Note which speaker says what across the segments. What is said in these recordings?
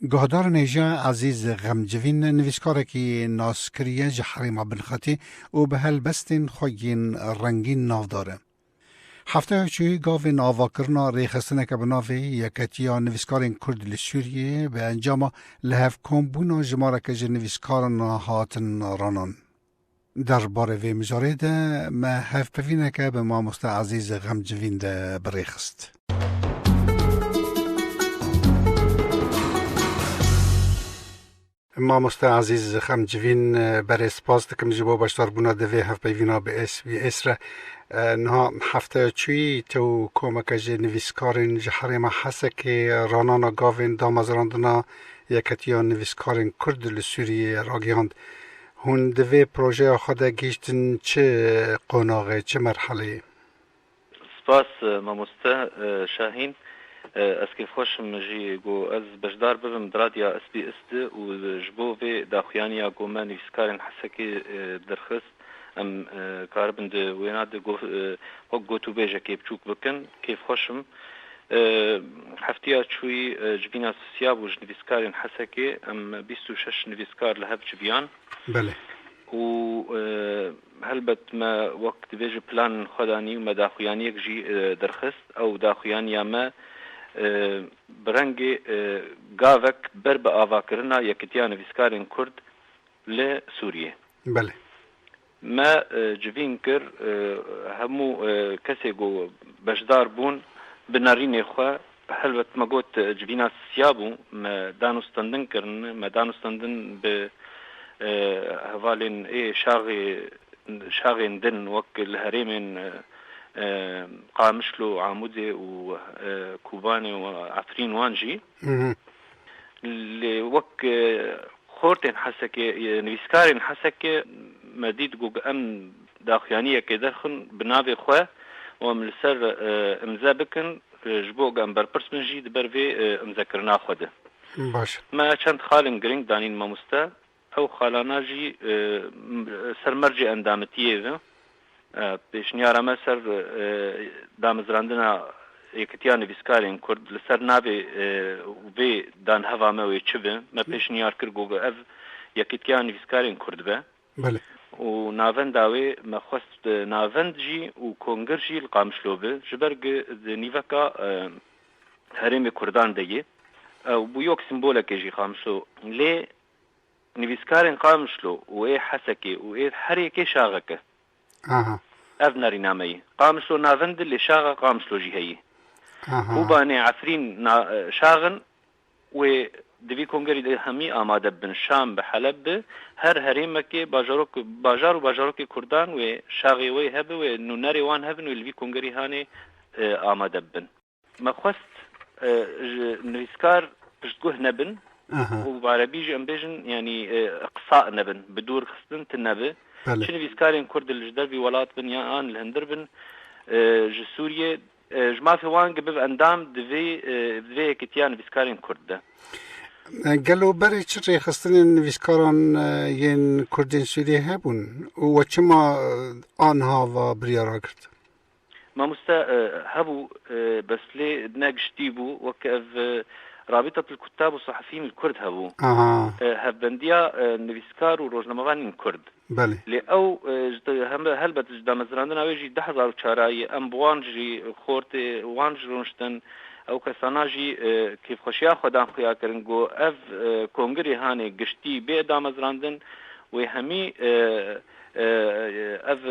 Speaker 1: Guhedar Nêja Ezîz Xemcivîn nivîskarekî naskiriye ji Herêma Binxetê û bi helbestên xwe yên rengîn navdar e. Hefteya çûyî gavên avakirina rêxistineke bi navê Yeketiya Nivîskarên Kurd li Sûriyeyê bi encama lihevkombûna jimareke ji nivîskaran hatin ranan. Der barê vê mijarê de me hevpevîneke bi mamoste Ezîz Xemcivîn de bi rê xist. Mamoste Azîz Xemcivîn berê spas dikim ji bo beşdarbûna di vê hevpeyvîna bi SBS re. Niha hefteya çûyî te û komeke ji nivîskarên ji herêma Hesekê ranana gavên damezrandina Yeketiya Nivîskarên Kurd li Sûriyeyê ragihand. Hûn di vê projeya xwe de gihîştin çi qonaxê, çi merheleyê? Spas mamoste Şahîn. Ez kêfxweş im jî ku ez beşdar bibim di radya SBS de û ji bo vê daxuyaniya ku me nivîskarên Hesekê derxist em karibin di wêna de wek gotûbêjekê biçûk bikin. Kêfxweş im. Hefteya çûyî civîna Sisya bû ji nivîskarên Hesekê. Em bîst û şeş nivîskar li hev civiyan. Belê. Û helbet me wek divê ji planên xwe de anî û me daxuyaniyek jî derxist. Ew daxuyaniya me bi rengê gavek ber bi avakirina yekitiya nivîskarên Kurd li Sûriyê. Belê. Me civîn kir hemû kesê ku beşdar bûn bi nerînê xwe. Helbet me got civîna siya bû. Me danûstandin kirin. Me danûstandin bi hevalên ê şaxê şaxên din wek li herêmên Qamişlo, Amûdê û Kobanê û Efrîn wan jî. Lê wek xortên Hesekê, nivîskarên Hesekê me dît ku em daxuyaniyekê derxin bi navê xwe û em li ser imze bikin ji bo ku em berpirs bin jî di ber vê imzekirina xwe de. Me çend xalên girîng danîn mamoste Ew xalana jî ser mercê endamitiyê ve pêşniyara me ser damezrandina Yekitiya Nivîskarên Kurd li ser navê vê danheva me wê çi be. Me pêşniyar kir ku ev Yekitiya Nivîskarên Kurd be û navenda wê me xwest navend jî û kongir jî li Qamişlo be. Ji ber ku di nîveka herêmê Kurdan de ye, ew bû yok sîmbolekê jî Qamişlo. Lê Nivîskarên Qamişlo û ê Hesekê û ê her yekê şaxek e. Aha. Ev narîname yî. Qamişlo navend di lê şaxa Qamişlo jî heyî. Aha. Kobanê Efrîn na şax in wê di vî kongerî de hemî amade bibin. Şam bi, Heleb bi, her herêmekê bajarok bajar û bajarokê kurdan wê şaxê wê hebe wê nûnerê wan hebin wê li vî kongerî hanê amade bibin. Me xwest ji nivîskar piştguh nebin û bi arebî jî em bêjin yanî qisa nebin, bi dûr xistin ti nebe. Çi nivîskarên Kurd li ji dervî welat bin ya an li hundir bin ji Sûriyê ji mafê wan gi bibe endam di vê di vê yekitiya nivîskarên Kurd de. Gelo berê çi rêxistinên nivîskaran yên Kurdên Sûriyê hebûn û we çima aniha va biryara girt? Mamoste hebû bes lê ne giştî bû wek ev Rabîtat el Kuttab û Sahafîyîn el Kurd hebû. Hevbendîya nivîskar û rojnamevanîn Kurd. Lê ew ji helbet ji damezirandina wê jî di hezar û çarayî em bi wan jî xortê wan jî rûniştin ew kesana jî kêfxweşîya xwe dan xuya kirin ku ev kongirê hanê giştî bê damezirandin wê hemî Ev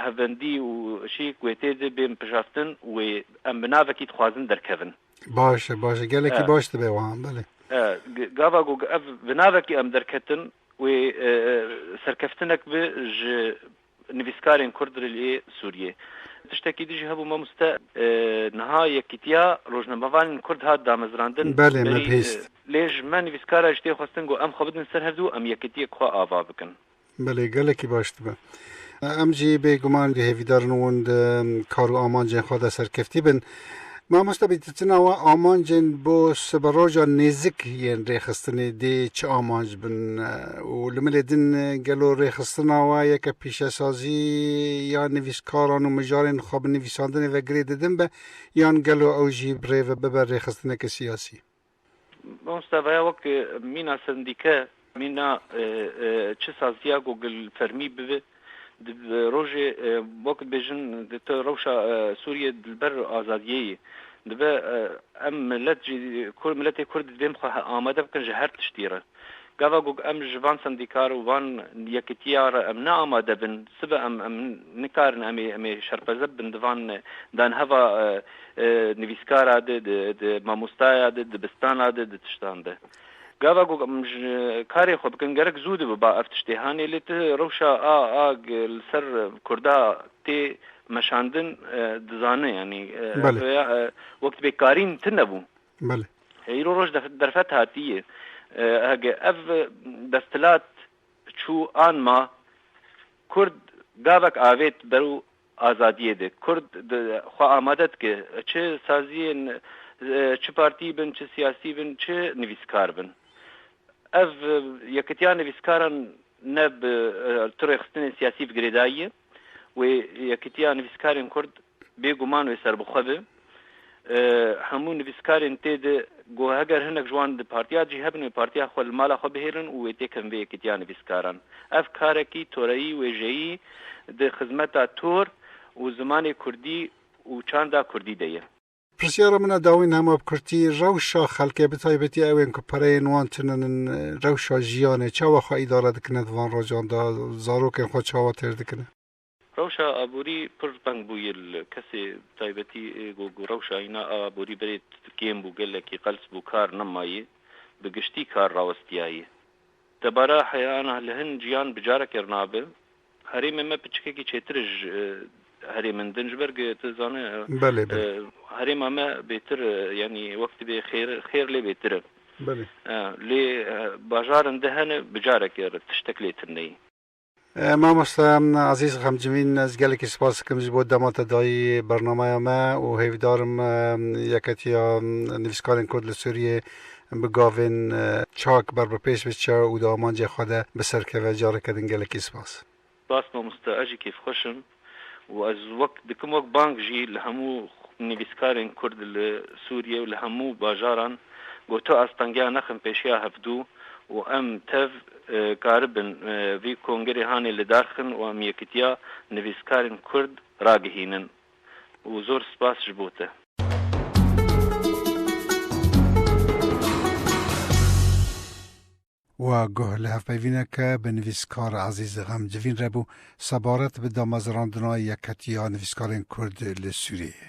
Speaker 1: hevendî û şî ku wê tê de bên pijartin wê em bi navekî dixwazin derkevin. Baş e, baş e. Gelekî baş dibe wiha, belê. Gava ku ev bi navekî em derketin wê serkeftinek be ji nivîskarên Kurd li lê Sûriyê. Tiştekî din jî hebû mamoste, niha Yekîtiya Rojnamevanên Kurd hat damezrandin. Belê, me bihîst. Lê ji me nivîskaran jî tê xwestin ku em xwe bidin ser hevdu û em yekîtiyek xwe ava bikin. Belê gelekî baş dibe. Em jî bê guman di hêvîdarin wan de kar û amancên xwe de serkeftî bin. Mamoste bî tu tina we amancên bo siberoja nêzik yên rêxistinê dê çi amanc bin û li milê din gelo rêxistina we yeke pîşesazî ya nivîskaran û mijarên xwe bi nivîsandinê ve girê didin be yan gelo ew jî bi rê ve bibe rêxistineke siyasî? Mamosta vaya wek mîna sendîke mîna çi saziya ku gil fermî bibe di rojê wek dibêjin di tu rewşa Sûriyê li ber azadiyê yê dibe em milet jî miletê Kurd divê xwe amade bikin ji her tiştî re. Gava ku em ji van sendîkar û van yekitiya re em ne amade bin, sibe em em nikarin em ê em ê şerpeze bibin di van danheva nivîskara de, di di mamostaya de, dibistana de, di tiştan de. Gava ku em ji karê xwe bikin gerek zû dibiba ev tiştê hanê lê tu rewşa a a li ser kurda tê meşandin dizane yanî Belê. rêya wek tibê karîn tune bû. Belê. Îro roj derfet hatiye. Hege ev desthilat çû an ma Kurd gavek avêt berû azadiyê de. Kurd xwe amade dike. Çi saziyên çi partî bin, çi siyasî bin, çi nivîskar bin. Ev yekitiya nivîskaran ne bi tu rêxistinên siyasî bi girêdayî ye. Wê yekitiya nivîskarên Kurd Bêguman wê serbixwe be. Hemû nivîskarên tê de got heger hinek ji wan di partiya cî hebin wê partiya xwe li mala xwe bihêlin û wê têkin vê yekîtiya nivîskaran. Ev karekî toreyî wêjeyî di xizmeta tor û zimanê kurdî û çanda kurdî de ye. Pirsyara min e dawîn hema bi kurtî rewşa xelkê bi taybetî ew ên ku pereyên wan tune nin rewşa jiyanê çawa xwe îdare dikine di van rocan de zarokên xwe çawa têr dikine? Rewşa aborî pir teng bû yê li kesê taybetî got ku rewşa îna a aborî berê kêm bû gelekî qels bû kar nemayî bi giştî kar rawestiyayî. Debara heyana li hin jiyan bi careke rinabe herêmê me piçikekî çêtir e ji herêmin din ji ber ku tu dizane herêma me bêtir yanî wek tu bê xêr xêr lê bêtir e lê bajarin di hene bi careke tiştek lê tune yî. Mamoste Azîz Xemcivîn ez gelekî spas dikim ji bo dema te dayî bernameya me û hêvîdar im Yeketiya Nivîskarên Kurd li Sûriyê bi gavên çak ber bi pêş biçe û di amancê xwe de biserkeve. Careke din gelekî spas. Spas mamoste ez jî kêfxweş im. û ez wek dikim wek bang jî li hemû nivîskarên Kurd li Sûriyê û li hemû bajaran ku tu astangiya nexin pêşiya hevdû û em tev karibin vî kongerê hanê lidarxin û em yekitiya nivîskarên Kurd ragihînin û zor spas ji bo te. Wa guh li hevpeyvîneke bi nivîskar Ezîz Xem civîn re bû, sebaret bi damezrandina Yeketiya Nivîskarên Kurd li Sûriyeyê.